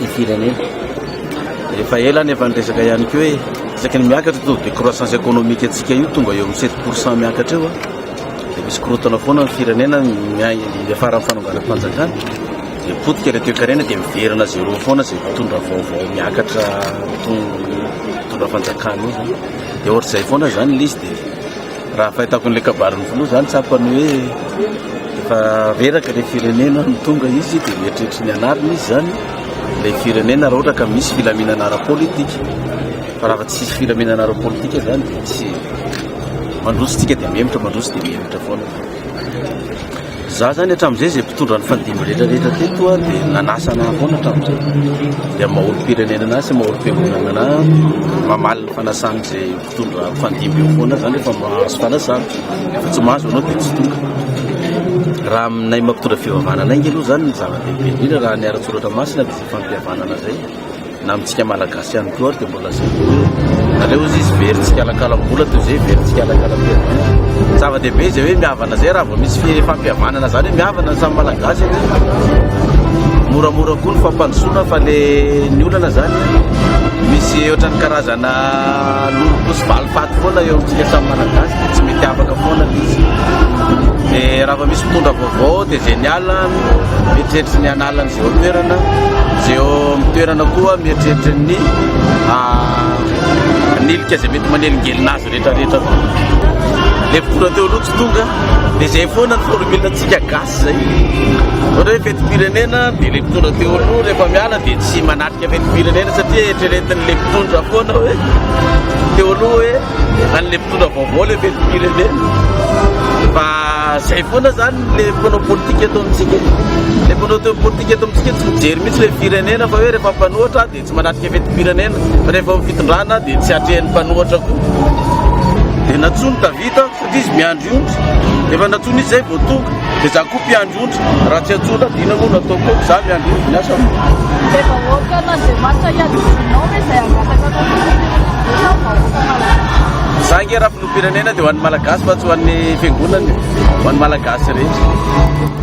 ny firenena. Efa ela ny efa niresaka ihany koa hoe isaky ny miakatra taux de croissance économique antsika io tonga eo amin'ny 7 pourcent miakatra eo dia misy korotana foana ny firenena miafara amin'ny fanongana fanjakana dia potika ilay toekarena dia miverina zéro foana izay mitondra vaovao miakatra mitondra fanjakana io dia ohatr'izay foana izany lisy dia Raha fahitako an'ilay kabarin'ny filoha izany tsapany hoe efa reraka ilay firenena no tonga izy dia mieritreritra ny hanarina izy izany ilay firenena raha ohatra ka misy filaminana ara-politika fa raha tsy misy filaminana ara-politika izany dia tsy mandroso tsika dia mihemitra mandroso dia mihemitra foana za zany hatramin'izay izay mpitondra ny fandimby rehetra rehetra teto a dia nanasana foana hatramin'izay dia maolo-pirenena anazy sy maolo-fiangonana anazy mamaly ny fanasan'izay Mitondra mpandimby eo foana zany rehefa mahazo fanasana. Rehefa tsy mahazo anao dia tsy tonga. Raha aminay mampitondra fivavahana anay nge aloha zany ny zava-dehibe indrindra raha ny ara-tsoratra masina dia izay fampihavanana zay. Na amintsika malagasy ihany koa ary dia mbola zay koa hoe aleo izy izy very tsikalakalam-bola toy izay very tsikalakalam-piaviana. Zava-dehibe izay hoe mihavana zay raha vao misy fi- fampihavanana zany hoe mihavana ny samy malagasy anie. Moramora koa ny fampandrosoana fa le ny olana zany misy ohatran'ny karazana Nanolom-potsy valifaty foana eo amintsika samy Malagasy dia tsy mety afaka foana ilay izy. Dia raha vao misy mpitondra vaovao dia génial, mieritreritra ny hanala an'izay eo an-toerana, izay eo amin'ny toerana koa mieritreritra ny hanilika izay mety manelingelina azy rehetrarehetra. Ilay vola teo aloha tsy tonga dia izay foana ny formule-ntsika gasy. Izay ohatra hoe fetim-pirenena dia ilay mpitondra teo aloha rehefa miala dia tsy manatrika fetim-pirenena satria eritreretin'ilay mpitondra foana hoe teo aloha hoe an'ilay mpitondra vaovao ilay fetim-pirenena fa izay foana zany le mpanao politika eto amintsika le mpanao teo politika eto amintsika tsy mijery mihitsy ilay firenena fa hoe rehefa mpanohatra dia Tsy manatrika fetim-pirenena fa rehefa ny fitondrana dia tsy atrehin'ny mpanohatra koa. Dia nantsoiny Davida satria izy miandry ondry. Rehefa nantsoiny izy izay vao tonga. Dia izaho koa mpiandry ondry. Raha tsy antsoina aho dia inona moa no ataoko eto? Izaho miandry ondry ny asako. Dia vahoakan'Andriamanitra iadidianao ve izay hangataka anao filoham-pirenena ve ianao vahoaka malagasy? Izaho ange raha filoham-pirenena dia ho an'ny Malagasy fa tsy ho an'ny fiangonana e. Ho an'ny Malagasy rehetra.